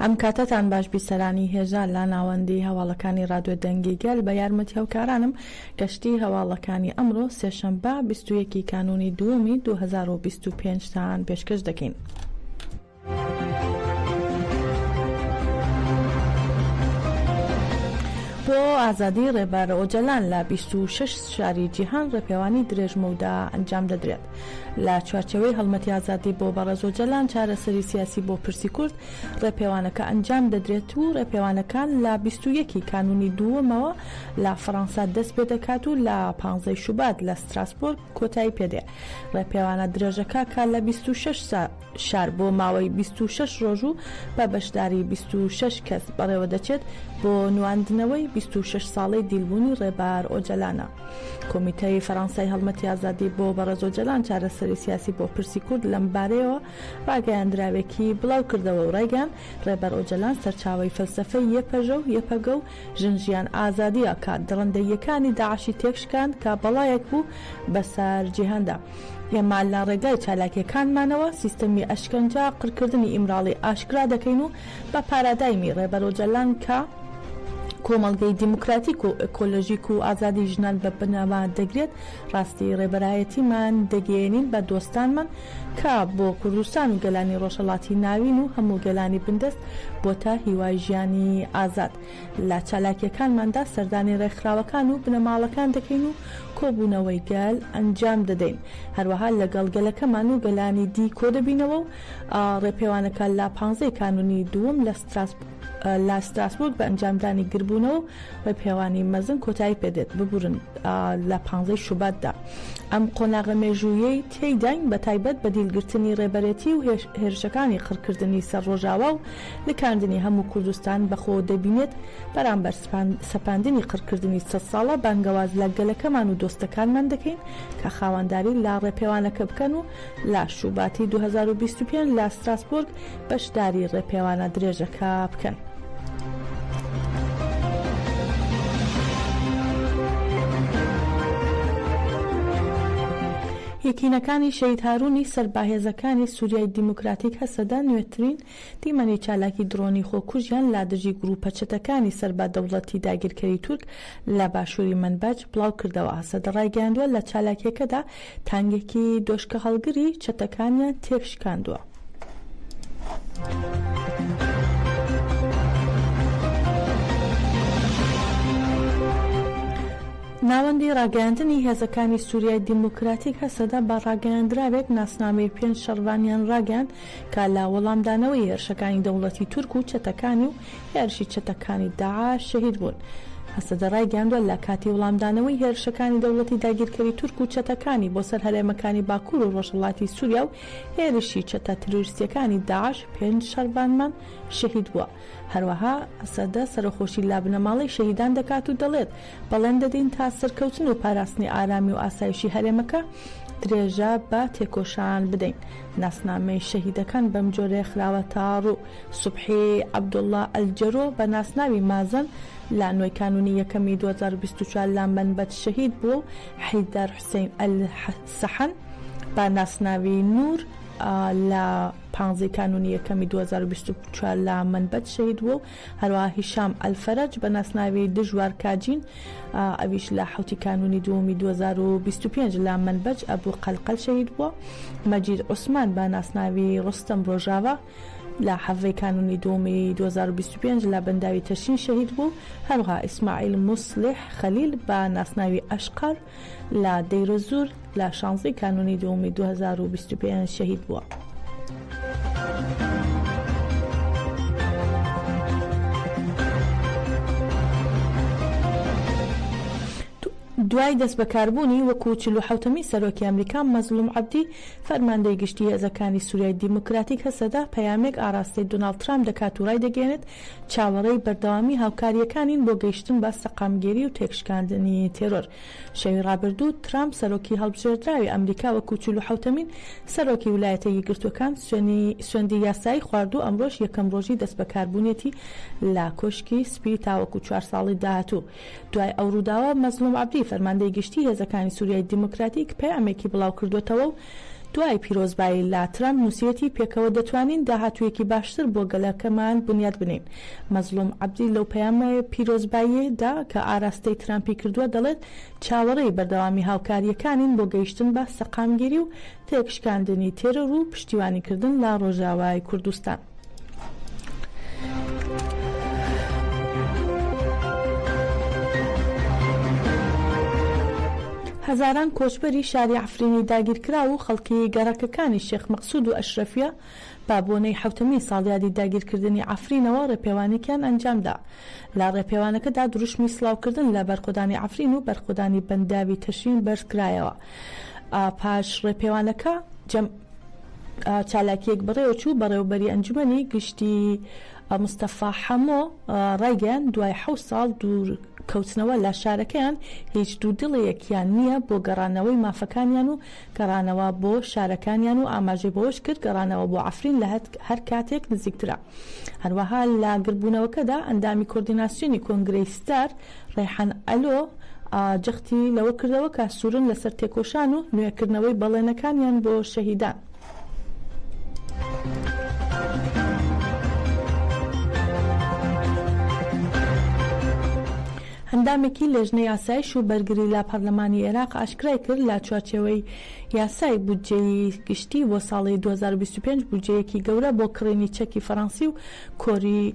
ئەم کاتەتان باش بیسەرانی هێژا لە ناوەندی هەواڵەکانی رادیۆ دەنگی گەل بە یارمەتی هەوکارانم گەشتی هەواڵەکانی ئەمڕۆ سێشەمبە بیست و یەک کانوونی دووەمی دوو هەزار و بیست و پێنج تان پێشکەش دەکەین. بۆ ئازادی رێبەر ئۆجەلان لە بیست و شەش شاری جیهان رێپێوانی درێژ مەودا ئەنجام دەدرێت. لە چوارچێوەی هەڵمەتی ئازادی بۆ بەڕێز ئۆجەلان چارەسەری سیاسی بۆ پرسی کورد ڕێپێوانەکە ئەنجام دەدرێت و ڕێپێوانەکان لە بیست و یەک ی کانوونی دووەمەوە لە فەڕەنسا دەست پێ دەکات و لە پانزە ی شوبات لە ستراسبۆرگ کۆتایی پێ دێ ڕێپێوانە درێژەکە کە لە بیست و شەش شار بۆ ماوەی بیست و شەش ڕۆژ و بە بەشداری بیست و شەش کەس بەڕێوەدەچێت بۆ نواندنەوەی بیست و شەش ساڵەی دیلبوونی ڕێبار ئۆجەلانە. کۆمیتەی فەرانسای هەڵمەتی ئازادی بۆ بەڕێز ئۆجەلان چارەسەری سیاسی بۆ پرسی کورد لەمبارەیەوە ڕاگەیاندراوێکی بڵاوکردەوە و ڕایگەیاند ڕێبەر ئۆجەلان سەرچاوەی فەلسەفەی یەپەژە و یەپەگە و ژن ژیان ئازادییە کە دڕندەییەکانی داعشی تێکشکاند کە بەڵایەک بوو بەسەر جیهاندا. ئێمە لە ڕێگای چالاکییەکانمانەوە سیستەمی ئەشکەنجە، قڕکردنی ئیمراڵی ئاشکرا دەکەین و بە پارادایمی ڕێبەر ئۆجالان کە کۆمەڵگەی دیموکراتیک و ئێکۆلۆژیک و ئازادی ژنان بە بنەما دەگرێت، ڕاستی ڕێبەرایەتیمان دەگەیەنین بە دۆستانمان کە بۆ کوردستان و گەلانی ڕۆژهەڵاتی ناوین و هەموو گەلانی بندەست بۆتە هیوای ژیانی ئازاد. لە چالاکییەکانماندا سەردانی ڕێکخراوەکان و بنەماڵەکان دەکەین و کۆبوونەوەی گەل ئەنجام دەدەین، هەروەها لەگەڵ گەلەکەمان و گەلانی دی کۆدەبینەوە و ڕێپێوانەکە لە پانزە ی کانوونی دووەم لە ستراسبورگ بە ئەنجامدانی گربوونەوە و ڕێپێوانی مەزن کۆتایی پێدێت، ببورن لە پانزە ی شوباتدا ئەم قۆناغە مێژووییەی تێیداین بەتایبەت بە دیلگرتنی ڕێبەرێتی و هێرشەکانی قڕکردنی سەر ڕۆژاوا و نکاندنی هەموو کوردستان بە خۆوە دەبینێت بەرامبەر سەپاندنی قڕکردنی سەد ساڵە، بانگەواز لە گەلەکەمان و دۆستەکانمان دەکەین کە خاوەنداری لە ڕێپێوانەکە بکەن و لە شوباتی دوو هەزار و بیست و پێنج لە ستراسبۆرگ بەشداری ڕێپێوانە درێژەکە بکەن. یەکینەکانی شەهید هارونی سەر بە هێزەکانی سوریای دیموکراتیک هەسەدە نوێترین تیمەنی چالاکی دڕۆنی خۆکوژیان لادژی گرووپە چەتەکانی سەر بە دەوڵەتی داگیرکەری تورک لە باشووری مەنبەج بڵاوکردەوەهەسەدە ڕایگەیاندووە، لە چالاکییەکەدا تانگێکی دۆشکەهەڵگری چەتەکانیان تێکشکاندووە. ناوەندی ڕاگەیاندنی هێزەکانی سووریای دیموکراتیک هەسەدە بە ڕاگەیاندراوێک ناسنامەی پێنج شەڕڤانیان ڕاگەیاند کە لە وەڵامدانەوەی هێرشەکانی دەوڵەتی تورک و چەتەکانی و هێرشی چەتەکانی داعش شەهید بوون. هەسەدە ڕایگەیاندوە لە کاتی وڵامدانەوەی هێرشەکانی دەوڵەتی داگیرکەری تورک و چەتەکانی بۆ سەر هەرێمەکانی باکور و ڕۆژهەڵاتی سوریا و هێرشی چەتە ترۆریستیەکانی داعش پێنج شەڕڤانمان شەهید بوە. هەروەها هەسەدە سەرەخۆشی لە بنەماڵەی شەهیدان دەکات و دەڵێت، بەڵێن دەدەین تا سەرکەوتن و پاراستنی ئارامی و ئاسایشی هەرێمەکە درێژە بە تێکۆشان بدەین. ناسنامەی شەهیدەکان بەم جۆرەیە خراوە تا ڕوو، سوبحی عەبدوڵا ئەلجەرۆ بە ناسناوی مازن لە نۆی کانوونی یەکەمی دوو هەزار و بیست و چوار لە مەنبەج شەهید بووە و حەیدەر حوسەین ئەلسەحن بە ناسناوی نوور لە پانزەی کانوونی یەکەمی دوو هەزار و بیست و چوار لە مەنبەج شەهید بووە و هەروەها هیشام ئەلفەرەج بە ناسناوی دژوار کاجین ئەویش لە حەوتی کانوونی دووەمی دوو هەزار و بیست و پێنج لە مەنبەج ئەبو قەلقەل شەهید بووە، مەجید عوسمان بە ناسناوی ڕۆستەم ڕۆژاڤا لە حەڤەی کانوونی دووەمی دوو هەزار و بیست و پێنج لە بەنداوی تەشین شەهید بوو، هەروەها ئیسماعیل موسڵیح خەلیل بە ناسناوی ئەشقەر، لە دەیرۆززور لە شانزەی کانوونی دووەمی دوو هەزار و بیست و پێنج شەهید بووە. دوای دەستبەکاربوونی وەکو چل و حەوتەمین سەرۆکی ئەمریکا، مەزڵوم عەبدی، فەرماندەی گشتی هێزەکانی سوریای دیموکراتیک هەسەدە، پەیامێک ئاراستەی دۆناڵد ترامپ دەکات و رایدەگەیەنێت چاوەڕێی بەردەوامی هاوکارییەکانین بۆ گەیشتن بە سەقامگیری و تێکشکاندنی تێرۆر. شەوی ڕابردوو، ترامپ، سەرۆکی هەڵبژێردراوی ئەمریکا وەکو چل و حەوتەمین سەرۆکی ولایەتە یەکگرتووەکان سوێندی یاسایی خوارد و ئەمڕۆش یەکەم ڕۆژی دەستبەکاربوونیەتی لە کۆشکی سپی تاوەکو چوار ساڵی داهاتوو دوای ئەو ڕووداوە مەزڵوم عەبدی فەرماندەی گشتی هێزەکانی سوریای دیموکراتیک پەیامێکی بڵاوکردووەتەوە و دوای پیرۆزبایی لە ترەمپ نووسیوەتی پێکەوە دەتوانین داهاتوویەکی باشتر بۆ گەلەکەمان بنیات بنێین. مەزڵوم عەبدی لەو پەیامە پیرۆزباییەدا کە ئاراستەی ترەمپی کردووە دەڵێت چاوەڕێی بەردەوامی هاوکارییەکانین بۆ گەیشتن بە سەقامگیری و تێکشکاندنی تێرۆر و پشتیوانیکردن لە ڕۆژاوای کوردستان. هەزاران کۆچبەری شاری عەفرینی داگیرکراو و خەڵکی گەڕەکەکانی شێخ مەقسود و ئەشرەفیە بە بۆنەی حەوتەمین ساڵیادی داگیرکردنی عەفرینەوە ڕێپێوانێکیان ئەنجامدا. لە ڕێپێوانەکەدا دروشمی سڵاوکردن لە بەرخۆدانی عەفرین و بەرخۆدانی بەنداوی تەشرین بەرزکرایەوە. پاش ڕێپێوانەکە جەم چالاکیەک بەڕێوەچوو بەڕێوبەری ئەنجومەنی گشتی مستەفا حەمۆ ڕایگەیان دوای حەوت ساڵ دوور کەوتنەوە لە شارەکەیان هیچ دوودڵیەکیان نییە بۆ گەڕانەوەی مافەکانیان و گەڕانەوە بۆ شارەکانیان و ئاماژەی بەوەش کرد گەڕانەوە بۆ عەفرین لە هەر کاتێک نزیکترە هەروەها لە گردبوونەوەکەدا ئەندامی کۆردیناسیۆنی کۆنگرەی ستار ڕەیحان ئەلۆ جەختی لەوە کردەوە کە سورن لەسەر تێکۆشان و نوێکردنەوەی بەڵێنەکانیان بۆ شەهیدان. ئەندامێکی لێژنەی ئاسایش و بەرگری لە پەرلەمانی ئێراق ئاشکرای کرد لە چوارچێوەی یاسای بودجەی گشتی بۆ ساڵی 2025 بودجەیەکی گەورە بۆ کڕینی چەکی فەرەنسی و کۆری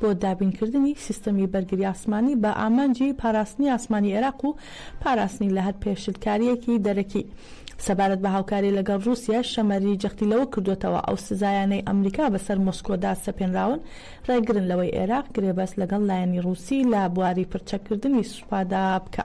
بۆ دابینکردنی سیستەمی بەرگری ئاسمانی بە ئامانجی پاراستنی ئاسمانی عێراق و پاراستنی لە هەر پێشلکارییەکی دەرەکی. سەبارەت بە هاوکاری لەگەڵ رووسیەش، شەمەری جەختی لەوە کردووەتەوە، ئەو سزایانەی ئەمریکا بەسەر مۆسکۆدا سەپێنراون، رێگرن لەوەی عێراق گرێبەست لەگەڵ لایەنی رووسی لە بواری پڕچەککردنی سوپادا بکا.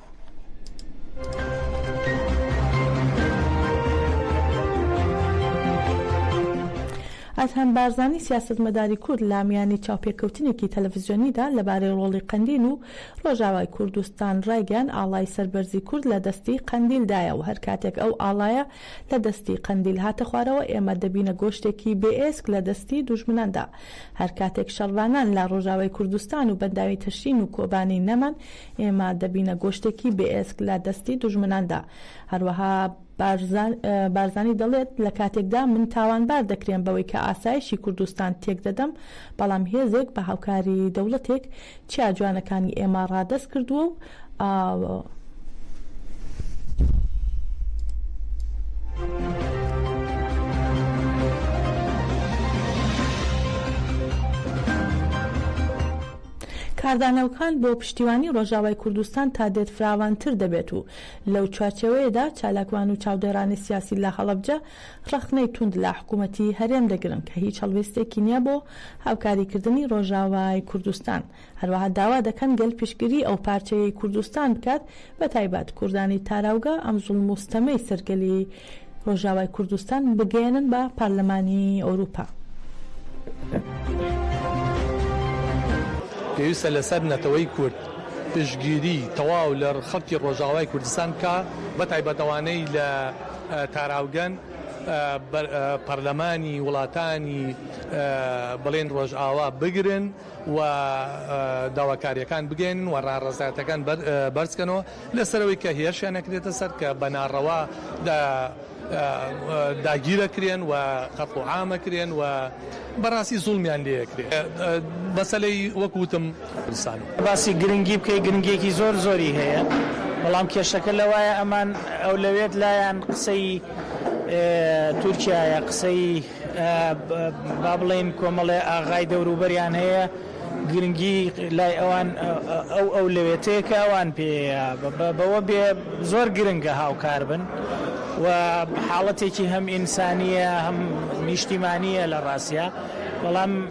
ئەدهەم بارزانی سیاسەتمەداری کورد لە میانی چاوپێکەوتنێکی تەلەفزیۆنیدا لەبارەی ڕۆڵی قەندیل و ڕۆژاوای کوردستان ڕایگەیان ئاڵای سەربەرزی کورد لە دەستی قەندیلدایە و هەر کاتێک ئەو ئاڵایە لە دەستی قەندیل هاتە خوارەوە ئێمە دەبینە گۆشتێکی بێ ئێسک لە دەستی دوژمناندا هەر کاتێک شەڕڤانان لە ڕۆژاوای کوردستان و بەنداوی تەشرین و کۆبانی نەمان ئێمە دەبینە گۆشتێکی بێ ئێسک لە دەستی دوژمناندا. هەروەها بارزانی دەڵێت، لە کاتێکدا من تاوانبار دەکرێم بەوەی کە ئاسایشی کوردستان تێک دەدەم، بەڵام هێزێک بە هاوکاری دەوڵەتێک چیا جوانەکانی ئێمە ڕادەست کردووە و. کاردانەوکان بۆ پشتیوانی ڕۆژاوای کوردستان تا دێت فراوانتر دەبێت و لەو چوارچێوەیەدا چالاکوان و چاودێڕانی سیاسی لە هەڵەبجە ڕەخنەی توند لە حکوومەتی هەرێم دەگرن کە هیچ هەڵوێستێکی نییە بۆ هاوکاریکردنی ڕۆژاوای کوردستان، هەروەها داوا دەکەن گەل پشتگیری ئەو پارچەیەی کوردستان بکات بە تایبەت کوردانی تاراوگە ئەم زوڵم و ستەمەی سەر گەلی ڕۆژاوای کوردستان بگەیەنن بە پارلەمانی ئەوروپا. پێویستە لە سەر نەتەوەی کورد پشتگیری تەواو لە خەڵکی ڕۆژاوای کوردستان بکا بە تایبەت ئەوانەی لە تاراوگەن بەر پارلەمانی وڵاتانی بڵێن ڕۆژاوا بگرن. و داواکاریەکان بگەیەنن و ڕاڕەزایەتەکان بەرز کەنەوە لەسەر ئەوەی کە هێرشیان ئەکرێتە سەر کە بە ناڕەوا داگیر ئەکرێن و قەتڵ و عام ئەکرێن و بەڕاستی زوڵمیان لێ ئەکرێ مەسەلەی وەک وتم کوردستان. باسی گرنگی بکەی گرنگیەکی زۆر زۆری هەیە بەڵام کێشەکە لەوایە ئەمان ئەولەوێت لایان قسەی تورکیایە قسەی. با بڵێین کۆمەڵێ ئاغای دەوروبەریان هەیە، گرنگی لای ئەوان ئەو ئەولەوێتەیە کە ئەوان پێیە، بەوە بێ زۆر گرنگە هاوکار بن و حاڵەتێکی هەم ئینسانییە هەم نیشتیمانییە لە ڕاستیا، بەڵام.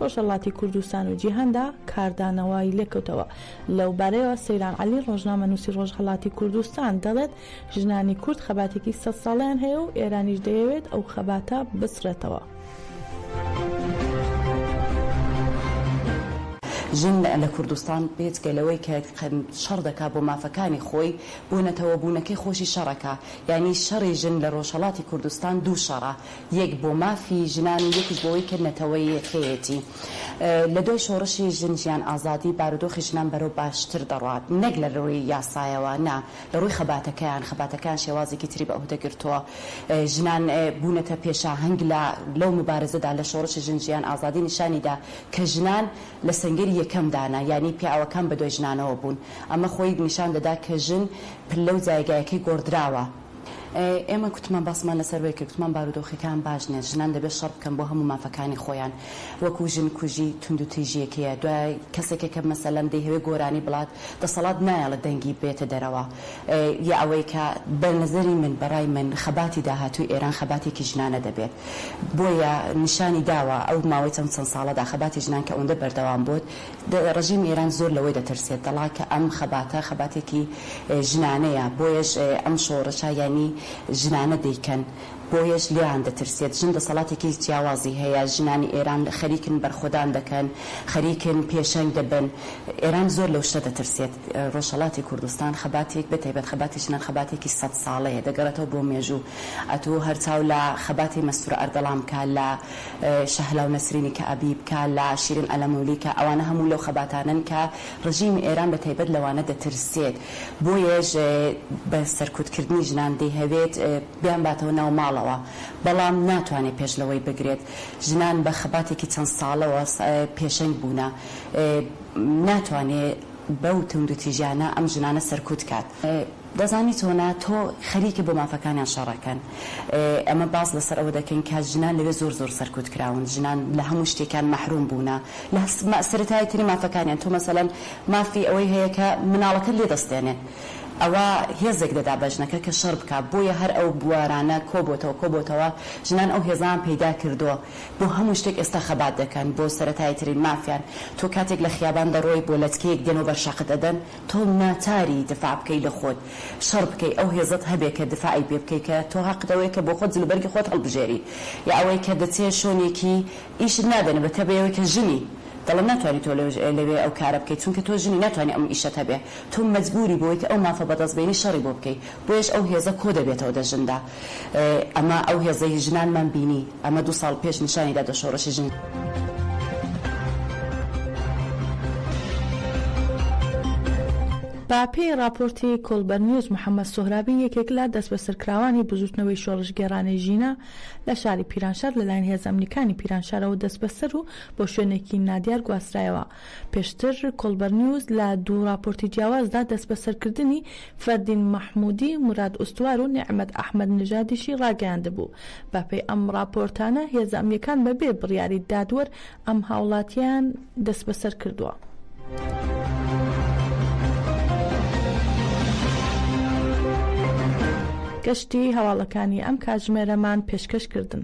ڕۆژهەڵاتی کوردستان و جیهاندا کاردانەوەی لێکەوتەوە. لەوبارەیەوە سەیران عەلی، ڕۆژنامەنووسی ڕۆژهەڵاتی کوردستان دەڵێت، ژنانی کورد خەباتێکی سەد ساڵەیان هەیە و ئێرانیش دەیەوێت ئەو خەباتە بسڕێتەوە. ژن لە کوردستان بێجگە لەوەی کە شەڕ دەکات بۆ مافەکانی خۆی، بۆ نەتەوەبوونەکەی خۆشی شەڕەکە. یانی شەڕی ژن لە ڕۆژهەڵاتی کوردستان دوو شەڕە. یەک بۆ مافی ژنان و یەکیش بۆوەی کە نەتەوە یەکەیەتی. لە دوای شۆڕشی ژن ژیان ئازادی بارودۆخی ژنان بەرەو باشتر دەڕوات نەک لە رووی یاسایەوە نا لە رووی خەباتەکەیان خەباتەکەیان شێوازێکی تری بە ئهوهدەگرتووە ژنان بوونەتە پێشاهەنگ لە لەو موبارزەدا لە شۆڕشی ژن ژیان ئازادی نیشانی دا کە ژنان لە سەنگەری یەکەم دانە یانی پیاوەکان بە دوای ژنانەوە بوون ئەمە خۆی نیشان دەدا کە ژن پلە و جایگایەکەی گۆڕدراوە. ئێمە کوتمان باسمان لەسەر وەی کرد کوتمان بارودۆخیەکان باش نیە ژنان دەبێت شەڕ بکەن بۆ هەموو مافەکانی خۆیان وەکو ژن کوژی توندو تیژیەکەیە دوای کەسێکە کە مەسەلەن دەیهەوێت گۆرانی بڵات دەسەڵات نایەڵێت دەنگی بێتە دەرەوە یە ئەوەی کە بەنەزەری من بەڕای من خەباتی داهاتوی ئێران خەباتێکی ژنانە دەبێت بۆیە نیشانی داوە ئەو ماوەی چەند چەند ساڵەدا خەباتی ژنان کە ئەوەندە بەردەوام بۆت ڕژیمی ئێران زۆر لەوەی دەترسێت دەڵا کە ئەم خەباتە خەباتێکی ژنانەیە بۆیەش ئەم شۆڕشە یانی ژنانە دەیکەن بۆیەش لێیان دەترسێت ژن دەسەڵاتێکی جیاوازی هەیە ژنانی ئێران خەریکن بەرخۆدان دەکەن خەریکن پێشەنگ دەبن ئێران زۆر لەو شتە دەترسێت ڕۆژهەڵاتی کوردستان خەباتێک بەتایبەت خەباتی ژنان خەباتێکی سەد ساڵەیە دەگەڕێتەوە بۆ مێژوو ئەتوو هەر چاو لە خەباتی مەستورە ئەردەڵان بکە لە شەهلا و نەسرینی کە ئەبی بکا لە شیرین ئەلەمولی کە ئەوانە هەموو لەو خەباتانەن کە ڕژیمی ئێران بە تایبەت لەوانە دەترسێت بۆیەش بە سەرکوت کردنی ژنان دەیهەوێت بیان باتەوە ناو ماڵەوە بەڵام ناتوانێت پێش لەوەی بگرێت ژنان بە خەباتێکی چەند ساڵەوە پێشەنگ بوونە ناتوانێت بەو توندوتیژیانە ئەم ژنانە سەرکوت کات. دەزانی تۆ نا تۆ خەریکە بۆ مافەکانیان شەڕەکەن ئێمە باس لەسەر ئەوە دەکەین کە ژنان لەوێ زۆر زۆر سەرکوت کراون ژنان لە هەموو شتێکان مەحروم بوونە لە سەرەتایی ترین مافەکانیان تۆ مەسەلەن مافی ئەوەی هەیە کە مناڵەکەت لێ دەستێنێ ئەوە هێزێک دەدا بە ژنەکە کە شەڕ بکا بۆیە هەر ئەو بوارانە کۆ بۆتەوە کۆ بۆتەوە ژنان ئەو هێزەیان پەیدا کردووە بۆ هەموو شتێک ئێستا خەبات دەکەن بۆ سەرەتایی ترین مافیان تۆ کاتێک لە خیابان دەڕۆی بۆ لەتکەیەک دێنەوە بەر شاقت ئەدەن تۆ ناچاری دفاع بکەی لە خۆت شەڕ بکەی ئەو هێزەت هەبێ کە دفاعی پێ بکەی کە تۆ هەقت ئەوەیە کە بۆ خۆت جلوبەرگی خۆت هەڵبژێری یا ئەوەی کە دەچێ شۆنێکی ئیشت نادەنێ بە تە بەوەی کە ژنی دەڵێن ناتوانی تۆ لەوێ ئەو کارە بکەی چونکە تۆ ژنی ناتوانی ئەم ئیشەت هەبێ تۆ مەجبوری بۆوەی کە ئەو مافە بەدەست بێنی شەڕی بۆ بکەی بۆیەش ئەو هێزە کۆ دەبێتەوە دە ژندا. ئەمە ئەو هێزەی ژنانمان بینی ئەمە دوو ساڵ پێش نیشانی دادە شۆڕشی ژن. بە پێی ڕاپۆرتی کۆڵبەر نیوز محەمەد سۆهرابی یەکێک لە دەستبەسەرکراوانی بزووتنەوەی شۆڕشگێڕانەی ژینا لە شاری پیرانشار لەلایەن هێزە ئەمنیەکانی پیرانشارەوە دەستبەسەر و بۆ شوێنێکی نادیار گواسترایەوە. پێشتر کۆڵبەرنیوز لە دوو ڕاپۆرتی جیاوازدا دەستبەسەرکردنی فەردین مەحموودی، موراد ئوستوار و نێعمەت ئەحمەد نژادیشی ڕاگەیاندبوو. بەپێی ئەم ڕاپۆرتانە هێزە ئەمنییەکان بەبێ بڕیاری دادوەر ئەم هاوڵاتییەیان دەستبەسەر کردووە. گشتی هەواڵەکانی ئەم کاتژمێرەمان پێشکەش کردن.